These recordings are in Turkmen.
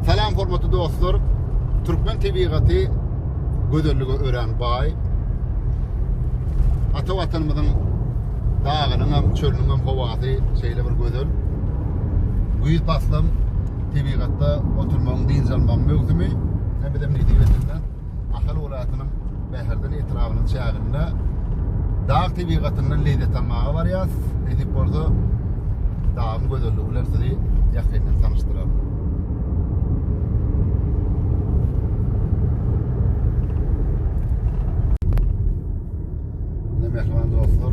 Salam hormatly dostlar. Türkmen tebigaty gözellige örän baý. Ata watanymyzyň dagynyň hem, çölüniň hem howasy şeýle bir gözel. Güýz paslam tebigatda oturmagyň, dynç almagyň möwsümi. Hem bizem nesibe etsin. Ahal welaýatynyň Bäherden etrabynyň çäginde dag tebigatyndan lezzet almaga barýas. Nesip bolsa, dagyň gözelligi bilen sizi ýakyndan tanyşdyraryn. Mähriban dostlar,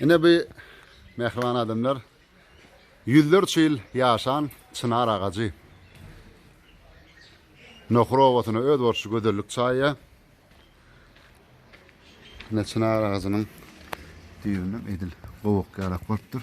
Ine bu mähriban adamlar Ýüzlerçe ýyl ýaşan çynar agajy. Nohur obasyna öz bolşy gözellik çaýýar. Ine çynar agajynyň düýbünden edil gowak ýarak bolupdyr.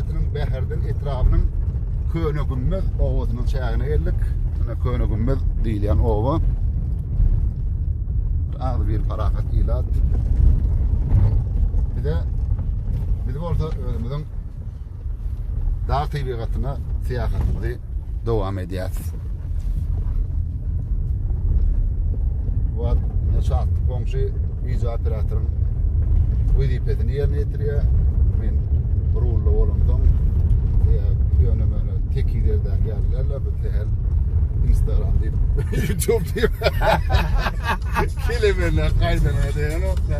Şäherçesiniň Bäherden etrabynyň Köne Gümmez obasynyň çägine geldik. Mine Köne Gümmez diýilýän oba. Az bir parahat ilat. Bir de biz bolsa özümüziň dağ tebigatyna syýahatymyzy dowam edýär. Wagt çatdy goňşy wideo operatoryň wezipesini ýerine ýetirýär. Men rulda bolansoň ýöne meni tekiz ýerdäki ýalylar bu tehel Instagram diýip YouTube diýip. Kelemenler gaýdan edýän okda.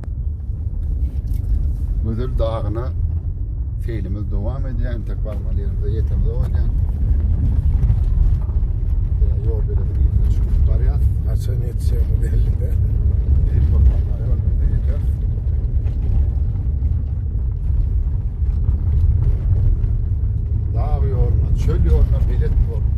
Gözel dagyna seýlimiz dowam edýär. Entek barmaly ýerimize ýetemizok edýän. Ýol beledi ýerine çykıp barýar. Haçan ýetişýämiz belli däl. Dag ýoluna, çöl ýoluna bilet bolup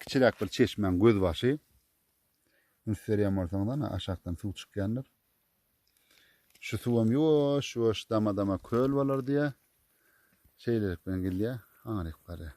Kiçiräk bir çeşmäň gözbaşy. Üns berýän bolsaňyz, ana aşakdan suw çykýandyr. Şu suwam ýuwaş, ýuwaş dama-dama köl bolar diýýär. Şeýlelik bilen gidýär, aňryk barýar.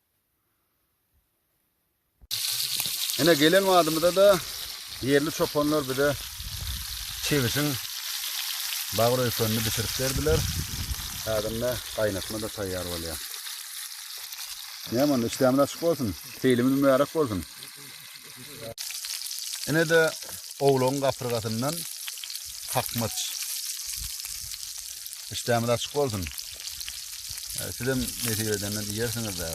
Ine gelen badymyza da ýerli çopanlar bize çebişiň bag röýkenini bitirip berdiler. Häzir ine gaýnatma da taýýar bolýar. Näme onda, işdämiz açyk bolsun, seýlimiz mübärek bolsun. Ine de owlagyň gapyrgasyndan kakmaç. İşdämiz açyk bolsun. E, siz hem nesip edenden iýersiňiz de.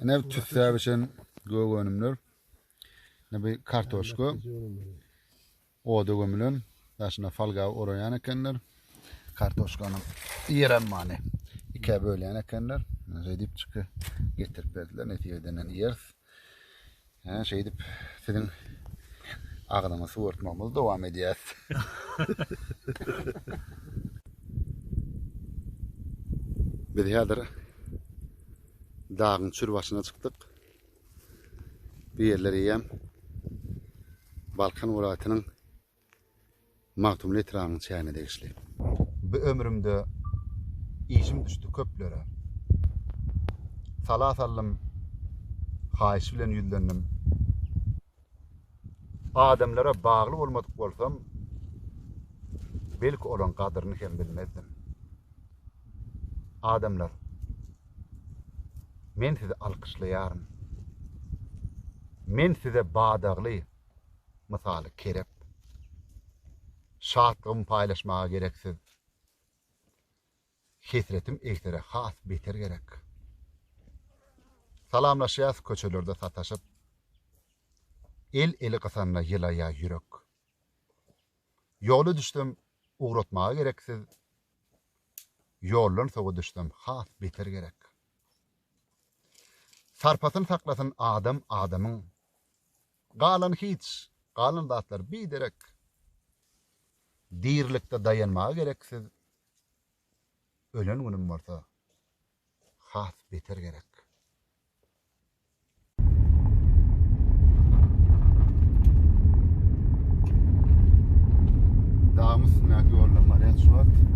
Ine tüssäp içen gök önümler. Ine bu kartoşka. Oda gömülen, daşyna folga oraýan ekenler. Kartoşkanyň ýerem many ikä bölýän ekenler. Redipçiki getirip berdiler. Netibe edenden iýeris. Hä, şeýdip siziň agzyňyzy suwartmagymyzy dowam edýäs. Biz häzir dagyň çür başyna çykdyk. Bu ýerler eýýäm Balkan welaýatynyň Magtymguly etrabynyň çägine degişli. Bu ömrümde işim düşdi köplere. Sala saldym, haýyş bilen ýüzlendim. Adamlara bagly bolmadyk bolsam, belki olaň gadyryny hem bilmezdim. Adamlar, men sizi alkyşlaýaryn. Men size badagly, mysaly kerep. Şatlygymy paýlaşmaga gereksiz. Hesretim egsere has beter gerek. Salamlaşýas köçelerde sataşyp, El eli gysanda ýylaýa ýürek. Ýola düşsem ugratmaga gereksiz, Ýoldan sowa düşsem has beter gerek. Sarpasyn saklasyn adam adamyň, Galan hiç, galan zatlar biderek. Dirilikde daýanmaga gereksiz, Ölen günüm bolsa has beter gerek. Dagyň üstündäki ýoldan barýan şu wagt.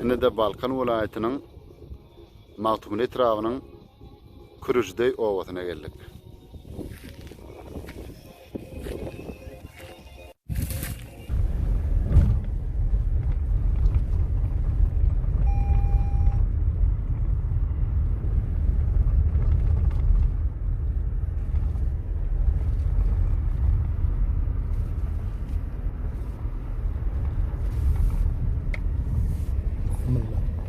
Indi de Balkan welaýatynyň Magtymguly etrabynyň Kürüjdeý obasyna geldik.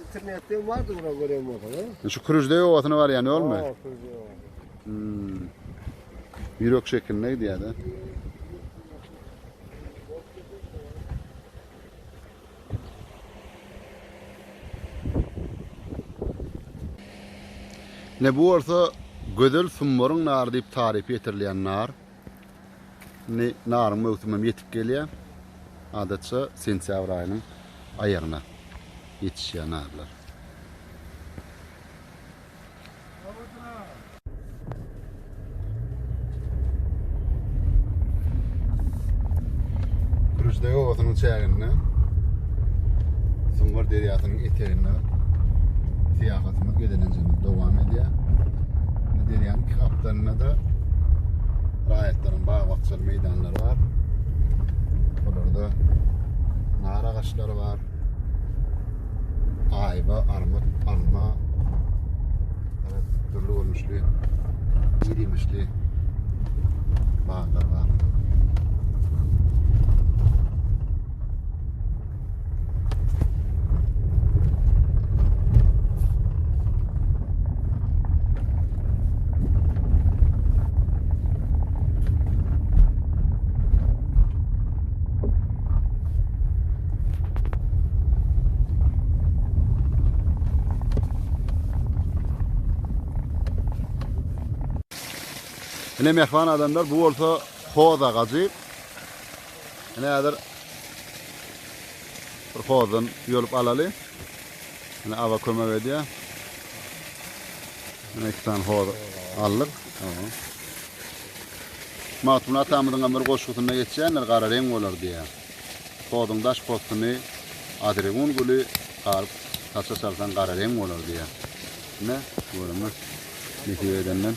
İnternetde vardı bura gören bolsaňyz. Şu Kürüjdeý obasyna barýan ýolmy? Aa, Kürüjdeý obasy. Hmm. Ýürek şekilinde gidýär-de. Ne bu bolsa Gözel Summaryň nary diýip tarypy ýetirilýän nar. Indi naryň möwsümi hem ýetip gelýär. Adatça sentýabr aýynyň aýagyna ýetişýär narlar. Kürüşdeg obasynyň çäginde Sungar derýasynyň eteginde syýahatymyz gezelenjemiz dowam edýär. Derýanyň iki çetlerinde-de raýatlaryň bag-bakjaly meýdanlary bar. Olarda nar agaçlary bar. Aýba, armut, alma, dürli görnüşli, irimişli baglar bar. Ine mehman adamlar bu bolsa hoz agajy. Ine häzir bir hozdan ýolup alaly. Ine aba kömek edýär. Ine iki sany hoz aldyk. Magtymguly atamyzyň bir goşgusynda geçýändir, gara reň bolar diýýär. Hozuň daş postuny adregun güli garyp saça salsaň gara reň bolar diýýär. Ine, görüňiz. Nesip edenden.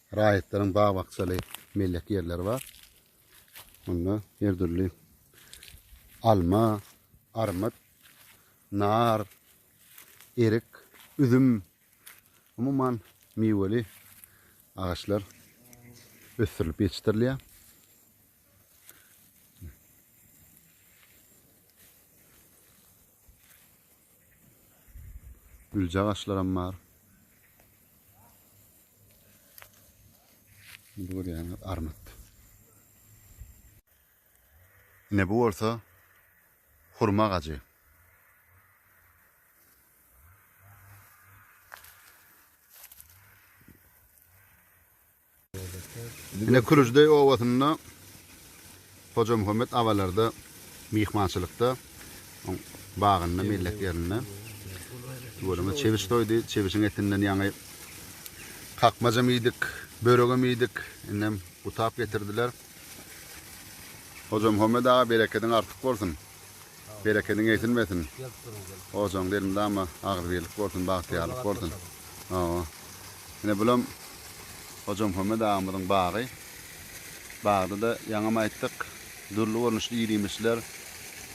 Raýatlaryň bag-bakjaly mellek ýerleri bar. Onda her dürli alma, armyt, nar, erik, üzüm, umuman miweli agaçlar ösdürilip ýetişdirilýär. Güljagaçlaram bar. Bu görýäňiz armyt. Ine bu bolsa hurma agajy. Ine Külijideý obasynda Hojamuhammet abalarda myhmançylykda, oň bagynda, mellek ýerinde. Tüweleme çebiş soýdy. Çebişiň etinden ýaňy kakmajam iýdik, böregem iýdik. Indem gutap getirdiler. Hojamuhammet aga berekediň artyk bolsun. Berekediň egsilmesin. Ojagyňda elmydama agzybirlik bolsun, bagtyýarlyk bolsun. Hawa. Ine bulam Hojamuhammet agamyzyň bagy. Bagda-da ýaňam aýtdyk, dürli görnüşli ir-iýmişler,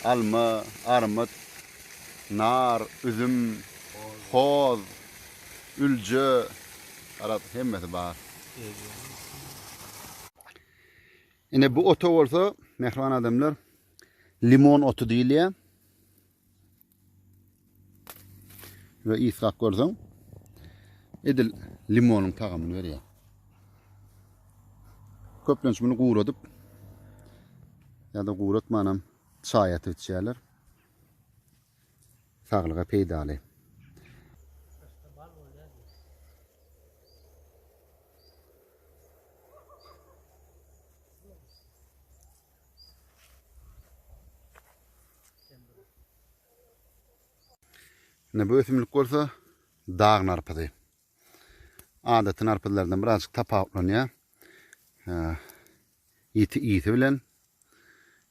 alma, armyt, nar, üzüm, hoz, ülje, garaz, hemmesi bar. Ine bu ota bolsa, mähriban adamlar, Limon oty diýilýär. Ve ýyskap görseň, edil limonyň tagamyny berýär. Köplenç muny guradyp ýa-da guratmanam çaý atyp içýärler. Saglyga peýdaly. Ine bu ösümlik bolsa dag narpyzy. Adaty narpyzlardan birazjyk tapawutlanýar. Ýiti ýiti bilen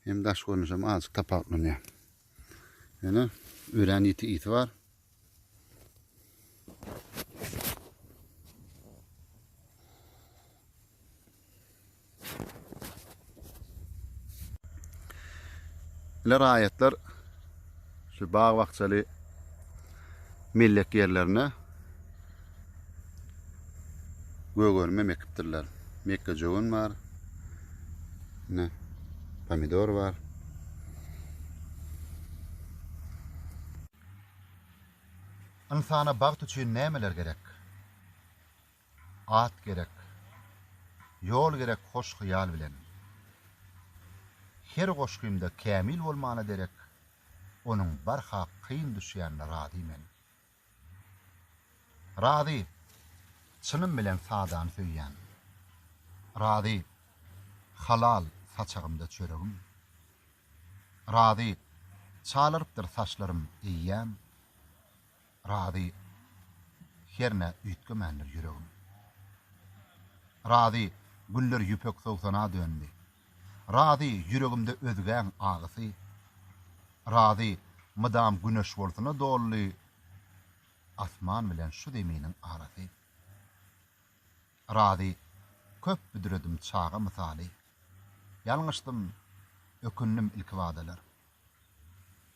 hem daş görnüşi hem azjyk tapawutlanýar. Ine örän ýiti ýiti bar. Ýöne raýatlar şu bag-bakjaly mellek ýerlerine gögönüm hem ekipdirler. Mekgejöwen bar. Ne? Pomidor bar. Ynsana bagt üçin nämeler gerek? At gerek, ýol gerek hoş hyýal bilen. Her goşgymda kämil bolmana derek, onuň barha kyn düşýänine razy men. Razy, çynym bilen sadany söýýän. Razy, halal saçagymda çöregim. Razy, çalarypdyr saçlarym eýýäm. Razy, hernä üýtgemändir ýüregim. Razy, güller ýüpek sowsana döndi. Razy, ýüregimde özgäň agysy. Razy, mydam güneş bolsuna doldy. Asman bilen şu zeminiň arasy. Razy, köp büdredim çaga mysaly, Ýalňyşdym, ökündim ilkibadalar.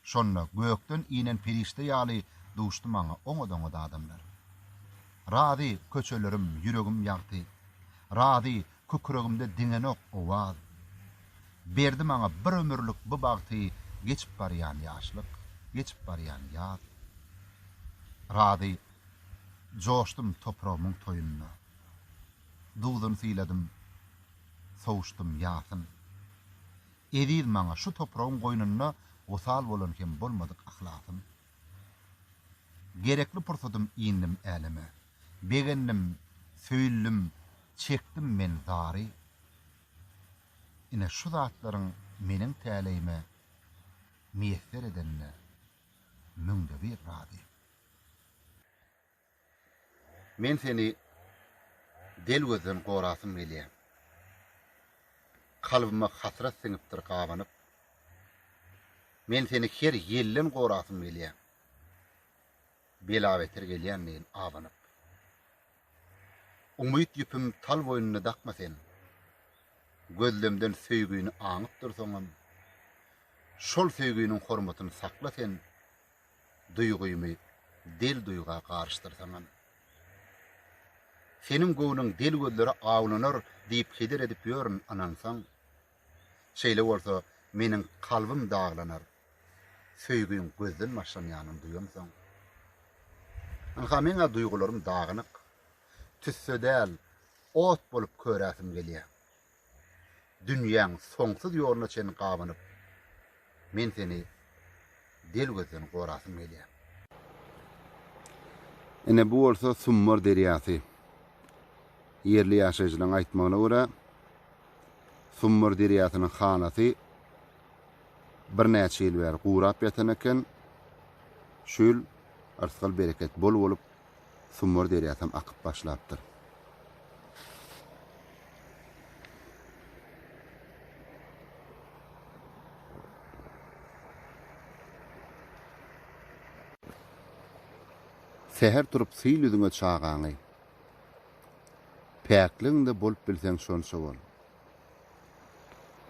Şonda gökden inen perişde ýaly Duşdy maňa oňat-oňat adamlar. Razy, köçelerim, ýüregim ýagty, Razy, kükregimde diňenok owaz. Berdi maňa bir ömürlik bu bagty Geçip barýan ýaşlyk, geçip barýan ýaz. Razy. Joşdum topragymyň toýunda. Duzun syladym, sowuşdym ýasyn. Eziz maňa şu topragyň goýnunda wysal bolan hem bolmadyk yhlasym. Gerekli pursadym indim äleme. Begendim, söýüldim, çekdim men zary. Ine şu zatlaryň meniň täleýime miýesser edenine müňde bir razy. Men seni del gözden gorasym gelýär. Kalbyma hasrat siňipdir gabanyp. Men seni her ýelden gorasym gelýär. Bela-beter gelýänleýin abanyp. Umyt ýüpüm tal boýnuna dakma sen. Gözlemden söýgini aňyp dursaňam. Şol söýginiň hormatyny sakla sen, duýgymy del duýga garyşdyrsaňam. Seniň göwnüň del gözlere awlanar diýip heder edip ýörün ynansaň. Şeýle bolsa meniň kalbym daglanar söýgiň gözden başlanýanyn duýansoň. Ynha meň-ä duýgularym dagynyk. Tüsse däl, ot bolup köräsim gelýär. Dünýäň soňsuz ýoluna çenli gabanyp, men seni del gözden gorasym gelýär. Ine, bu bolsa Summar derýasy. Ýerli ýaşaýjylaryň aýtmagyna görä, Summar derýasynyň hanasy birnäçe ýyl bäri gurap ýatan eken. Şu ýyl yrsgal-bereket bol bolup, Sumbar derýasam akyp başlapdyr. Säher turup syl üzüňe çagaňy. Päkligiňde bolup bilseň şonça bol.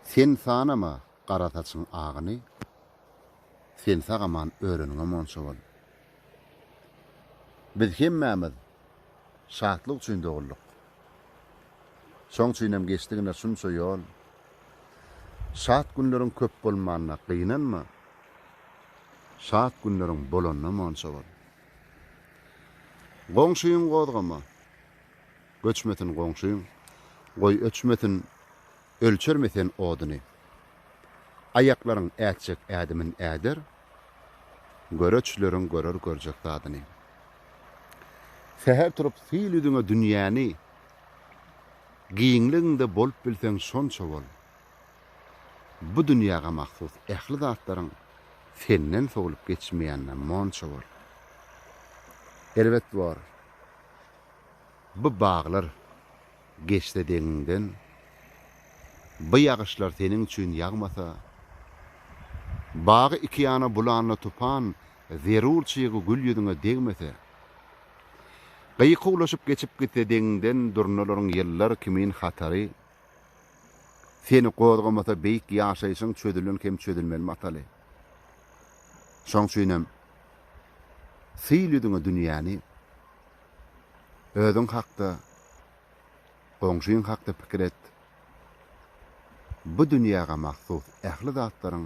Sen sanama gara saçyň agyny. Sen sagaman öreniňe monça bol. Biz hemmämiz şatlyk üçin dogulduk. Şoň üçinem geçdigine şunça ýol. Şat günleriň köp bolmanyna gynanma, şat günleriň bolanyna monça bol. Goňşyň gozgama, göçmesin goňşyň, goý öçmesin ölçermi sen oduny? Aýaklaryň ätjek ädimin äder, göreçleriň görer görjek zadyny. Säher turup syl ýüzüňe dünýäni, giňligiňde bolup bilseň şonça bol. Bu dünýäge mahsus ähli zatlaryň senden sowlup geçmeýänine monça bol. Erbet bor bu baglar, Geçse deňiňden bu ýagyşlar seniň üçin ýagmasa, Bagy iki ýana bulanly tupan zerur çygy gül ýüzüňe degmese, Gyýyk uwlaşyp geçip gitse deňiňden durnalaryň ýyllar kimin hatary, Seni gozgamasa beýik ýaşaýşyň çözülen hem çözülmeli mataly. Şoň üçinem, syl ýüzüňe dünýäni. Özüň hakda, goňşyň hakda pikir et. Bu dünýäge mahsus ähli zatlaryň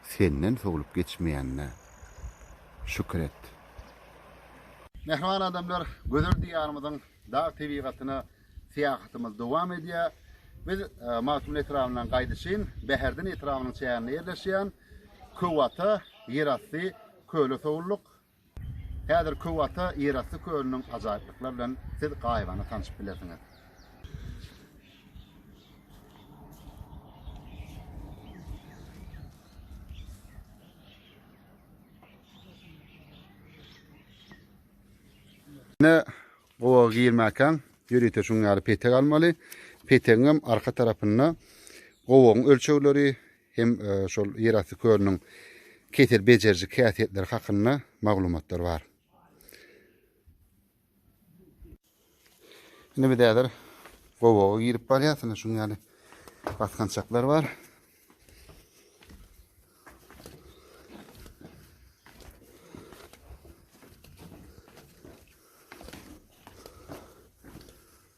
senden sowlup geçmeýänine şükür et. Mähriban adamlar, gözel Diýarymyzyň dag tebigatyna syýahatymyz dowam edýär. Biz Magtymguly etrabyndan gaýdyşyn Bäherden etrabynyň çäginde ýerleşýän Köwata ýerasty köle sowulduk. Häzir Köwata ýerasty kölüniň ajaýyplyklar bilen siz gaýybana tanşyp bilersiňiz. Ne gowa girmäkäň ýörite şuň ýaly petek almaly. Petegiňem arka tarapynda gowagyň ölçegleri, hem şol ýerasty kölüniň kesel bejeriji häsiýetleri hakynda maglumatlar bar. Indi biz häzir gowaga girip barýas. Indi şuň ýaly basgançaklar bar.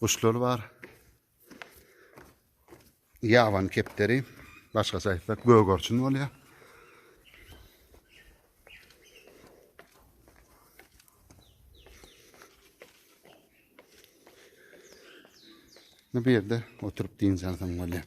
Guşlar bar. Ýaban kepderi, başgaça aýtsak gögerçin bolýar. Bu ýerde oturyp dynç alsaň bolýar.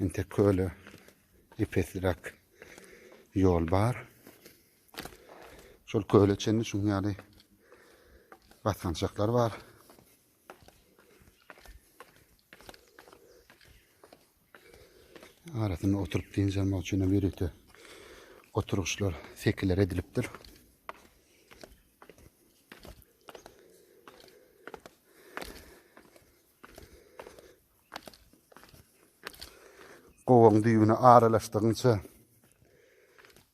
Inte köle epesrak yol bar. Şol köle çenli şun yani basgançaklar bar. Arasında oturup deyin çalmak için de birlikte oturuşlar sekiler ediliptir. Gowagyň düýbüne aralaşdygyňça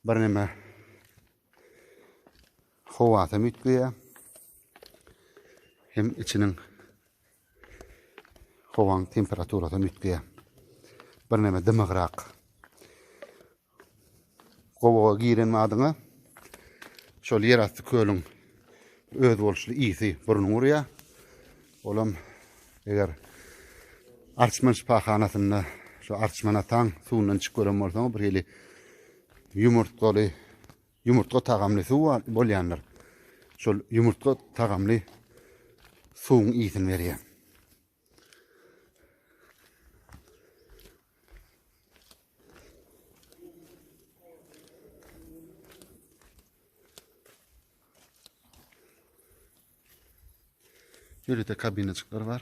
birneme howasy hem üýtgeýär. Hem içiniň howaň temperaturasy hem üýtgeýär. Birneme dymygrak Gowaga giren badyňa şol ýerasty kölüň özboluşly ysy burnuňy urýar. Olam eger Arçman şypahanasynda şu Arçman ataň suwundan içip gören bolsaňyz bir hili ýumurtgaly, ýumurtga tagamly suw bolýandyr. Şol ýumurtga tagamly suwuň ýysyny berýär. Ýörite kabinacyklar bar.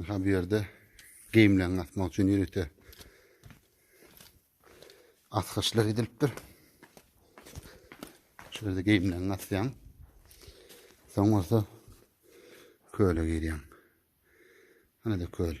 Aha bu ýerde geýimlerini asmak üçin ýörite asgyçlar edilipdir. Şu ýerde geýimlerini asýaň. Soň bolsa köle girýäň. Hana-da köl.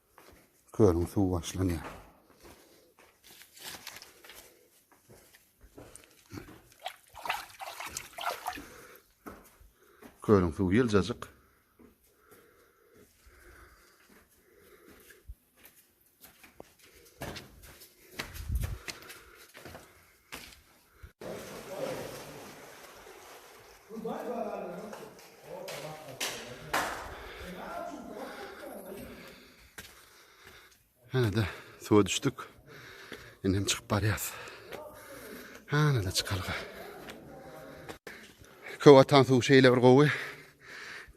Kölüň suwy başlanýar. Kölüň suwy ýyljajyk. Hana-da suwa düşdük. Indi hem çykyp barýas. Hana-da çykalga. Köw atan suw şeýle bir gowy,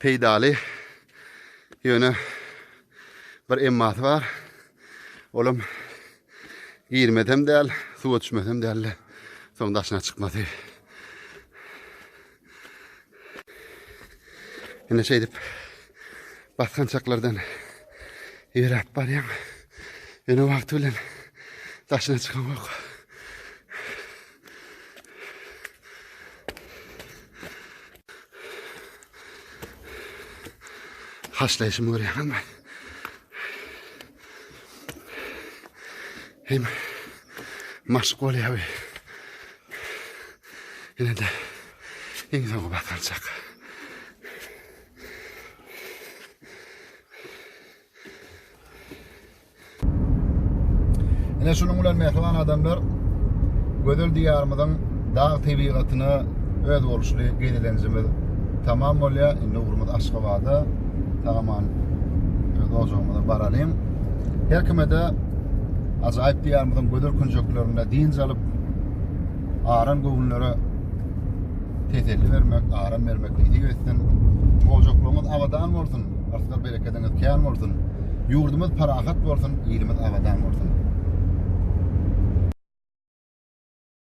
peýdaly. Ýöne bir emmasy bar. Olam Girmesem däl, suwa düşmesem däl. Soň daşyna çykmasy. Ine şeýdip basgançaklardan ýöräp barýan. Ýöne wagty bilen daşyna çykan yok. Haşlaýşymy görýäňizmi? Hem maşk bolýar we ýene de iň soňky batarjak. Ine şunuň bilen mähriban adamlar gözel diýarymyzyň dag tebigatyna özboluşly gezelenjimiz tamam bolýar. Indi ugrumyz Aşgabada. Sagaman öz ojagymyza baralyň. Her kime-de ajaýyp diýarymyzyň gözel künjeklerinde dynç alyp, aran göwünlere teselli bermek, aram bermek nesip etsin. Ojaklaryňyz abadan bolsun. Berekediňiz kän bolsun. Ýurdumyz parahat bolsun, ilimiz abadan bolsun.